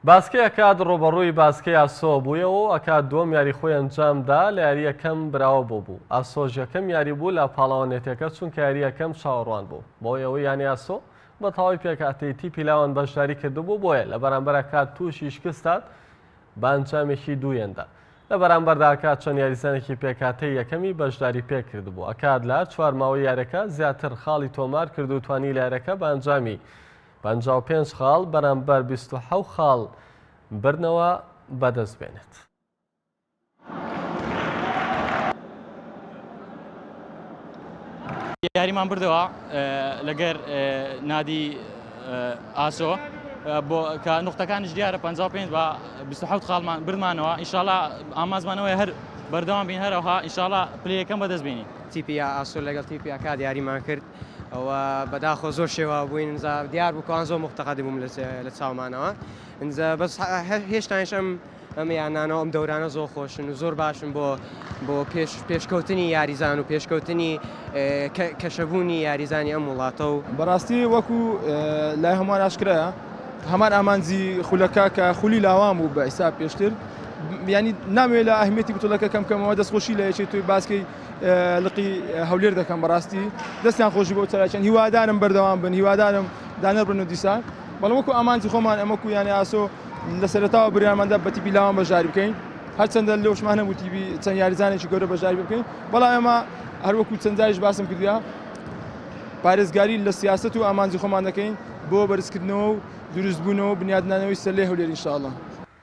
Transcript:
باسکەی ئەکاد ڕووبەڕووی باسکەی ئاسۆ بوویەوە و ئەکاد دووەم یاری خۆی ئەنجام دا لە یاری یەکەم براوە بۆ بوو ئاسۆش یەکەم یاری بوو لە پاڵەوانێتەکە چونکە یاری یەکەم چاوەڕوان بوو بەوەی ئەوەی یانی ئاسۆ بە تەواوی پێکهاتەی تیپی لاوان بەشداری کردبوو بۆیە لە بەرامبەر ئەکاد تووشی شکستات بە ئەنجامێکی دوویەندا لە بەرامبەردا ئەکاد چەند یاریزانێکی پێکهاتەی یەکەمی بەشداری پێ کردبوو ئەکاد لە چوار ماوەی یارەکە زیاتر خاڵی تۆمار کرد و توانی لە یارەکە بە ئەنجامی پەنجا و پێنج خاڵ بەرامبەر بیست و حەوت خاڵ بردنەوە بەدەست بێنێت. یاریمان بردەوە لەگەر نادی ئاسۆ بۆ کە نقطەکانش دیارە 55 بە 26 خاڵمان بردمانەوە ئیشاڵا ئامازمانەوەی هەر بەردەوام بین هەرەوها ئیشاڵا پلەکەم بەدەست بینی تیپیا ئاسۆ لەگەڵ تیپیاکا دیاریمان کرد ئەوە بەداخۆ زۆر شێواو بووین ئینجا دیار بوو کەوان زۆر مفتەقەدی بووم لە چاومانەوە ئینجا بەس هێشتانش ئەم ئەم یانانەوە ئەم دەورانە زۆر خۆشن و زۆر باشن بۆ بۆ پێش پێشکەوتنی یاریزان و پێشکەوتنی کەشەبوونی یاریزانی ئەم وڵاتە و بەڕاستی وەکو لای هەمووان ئاشکرایە هەمان ئامانجی خولەکە کە خولی لاوان بوو بە ئیسا پێشتر ینی نامێ لە ئەهمیەتی بتڵەکە کەم کەمەوە دەستخۆشی لە یەکێت توی باسکەی لقی هەولێر دەکەم بەڕاستی دەستیان خۆشی بۆ چالاکیان هیوادارم بەردەوام بن هیوادارم دانەر بن و دیسان بەڵام وەکو ئامانجی خۆمان ئەمە کویانە ئاسۆ لە سەرتاوە بریانماندا بە تیپی لاوان بەشداری بکەین هەرچەندە لەوشمان نەبوو تیبی چەند یاریزانێکی گەورە بەشداری بکەین بەڵام ئێمە هەروەکو چەندایش باسم کردیا پارێزگاری لە سیاست و ئامانجی خۆمان دەکەین بۆ بەرزکردنەوە و دروستبوونەوە بنیادنانەوەی سەلێ هەولێر انشاءاللە